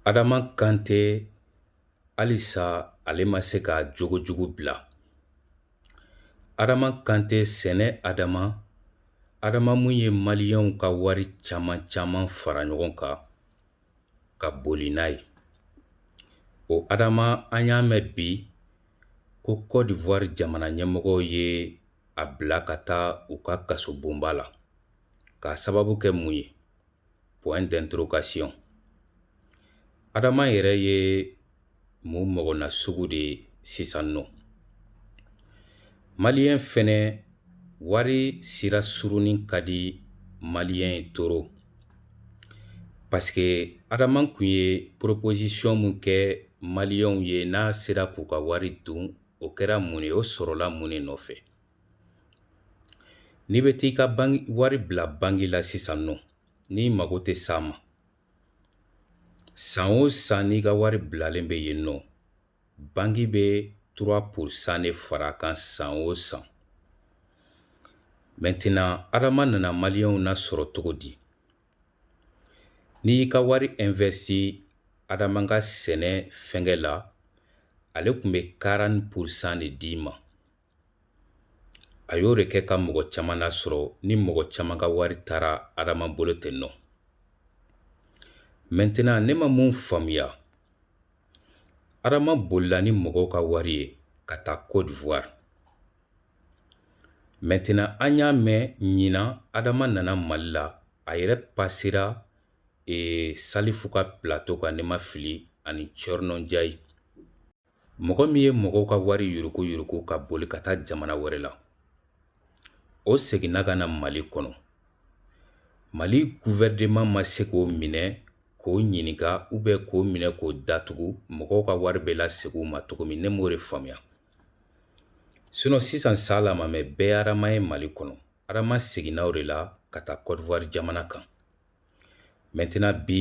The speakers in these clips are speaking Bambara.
Adama Kante halisa ale ma se ka jogojugu bila. Adama Kante sɛnɛ Adama, Adama mun ye Maliyɛnw ka wari caman caman fara ɲɔgɔn kan ka boli n'a ye. O Adama an y'a mɛn bi ko Côte d'Ivoire jamana ɲɛmɔgɔw ye a bila ka taa u ka kasobonba la. K'a sababu kɛ mun ye? point d'interrogation adama yɛrɛ ye mun mɔgɔna sugu de ye sisan nɔ maliyɛn fɛnɛ wari sira surunni ka di maliyɛn ye trop parce que adama kun ye proposition mun kɛ maliyɛnw ye n'a sera k'u ka wari dun o kɛra mun ye o sɔrɔla mun de nɔfɛ n'i bɛ t'i ka wari bila bangi la sisan nɔ n'i mago tɛ s'a ma san o san n'i ka wari bilalen bɛ yen nɔ bangi bɛ trois pour cent de fara a kan san o san maintenant adama nana maliyɛnw nasɔrɔ cogo di n'i y'i ka wari investi adama ka sɛnɛ fɛngɛ la ale kun bɛ quarante pour cent de d'i ma a y'o de kɛ ka mɔgɔ caman nasɔrɔ ni mɔgɔ caman ka wari taara adama bolo ten nɔ maintenant ne ma mun faamuya adama bolila ni mɔgɔw ka wari ye ka taa côte d'ivoire maintenant an y'a mɛn ɲinan adama nana mali la a yɛrɛ pasera e, salifu ka plateau kan ne ma fili ani thierno n'diaye mɔgɔ min ye mɔgɔw ka wari yuruku yuruku ka boli ka taa jamana wɛrɛ la o seginna ka na mali kɔnɔ mali guvɛrɛnman ma se k'o minɛ k'o ɲininka ou bien k'o minɛ k'o datugu mɔgɔw ka wari bɛ lasegin u ma cogo min ne m'o de faamuya sinon sisan saa la mamɛ bɛɛ adama ye mali kɔnɔ adama seginna o de la ka taa kɔdiwari jamana kan maintenant bi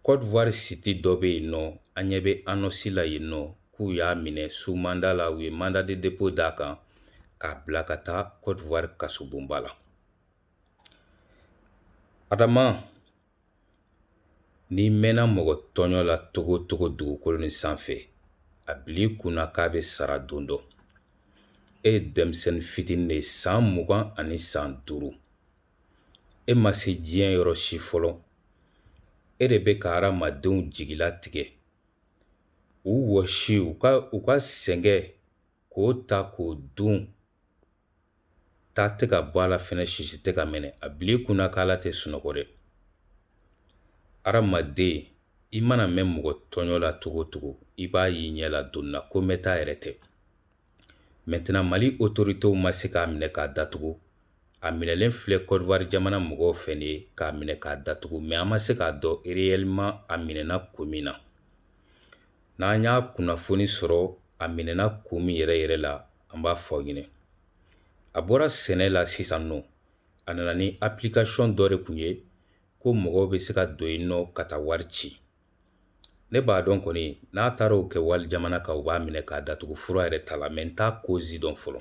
kɔdivuwari site dɔ bɛ yen nɔ an ɲɛ bɛ annonce la yen nɔ k'u y'a minɛ sous mandat la u ye mandat de dépôt d'a kan k'a bila ka taa kɔdivuwari kasobonba la adama n'i mɛnna mɔgɔ tɔɲɔ la cogo o cogo dugukolo nin sanfɛ a bil'i kunna k'a bɛ sara don dɔ e ye denmisɛnnin fitinin de ye san mugan ani san duuru E ma se diɲɛ yɔrɔ si fɔlɔ. E de bɛ ka hadamadenw jigila tigɛ. U wɔsi, u ka sɛgɛn k'o ta k'o dun. Ta tɛ ka bɔ a la fɛnɛ, sisi tɛ ka minɛ. A bil'i kunna k'Ala tɛ sunɔgɔ dɛ. Hadamaden, i mana mɛn mɔgɔ tɔɲɔ la cogo o cogo, i b'a y'i ɲɛ la don na ko mɛnta yɛrɛ tɛ. mali otoritew ma se k'a minɛ k'a datugu a minɛlen filɛ kɔdiwari jamana mɔgɔw fɛ nin ye k'a minɛ k'a datugu mɛ an ma se k'a dɔn reyɛliman a minɛna kun min na n'an y'a kunnafoni sɔrɔ a minɛna kun min yɛrɛ yɛrɛ la an b'a fɔ aw ɲinɛ a bɔra sɛnɛ la sisan nɔ a nana ni apilikasɔn dɔ de kun ye ko mɔgɔw be se ka don yen nɔ ka taa wari ci ne b'a dɔn kɔni n'a taara o kɛ wali jamana kan u b'a minɛ k'a datugu fura yɛrɛ t'a la mɛ n t'a kozi dɔn fɔlɔ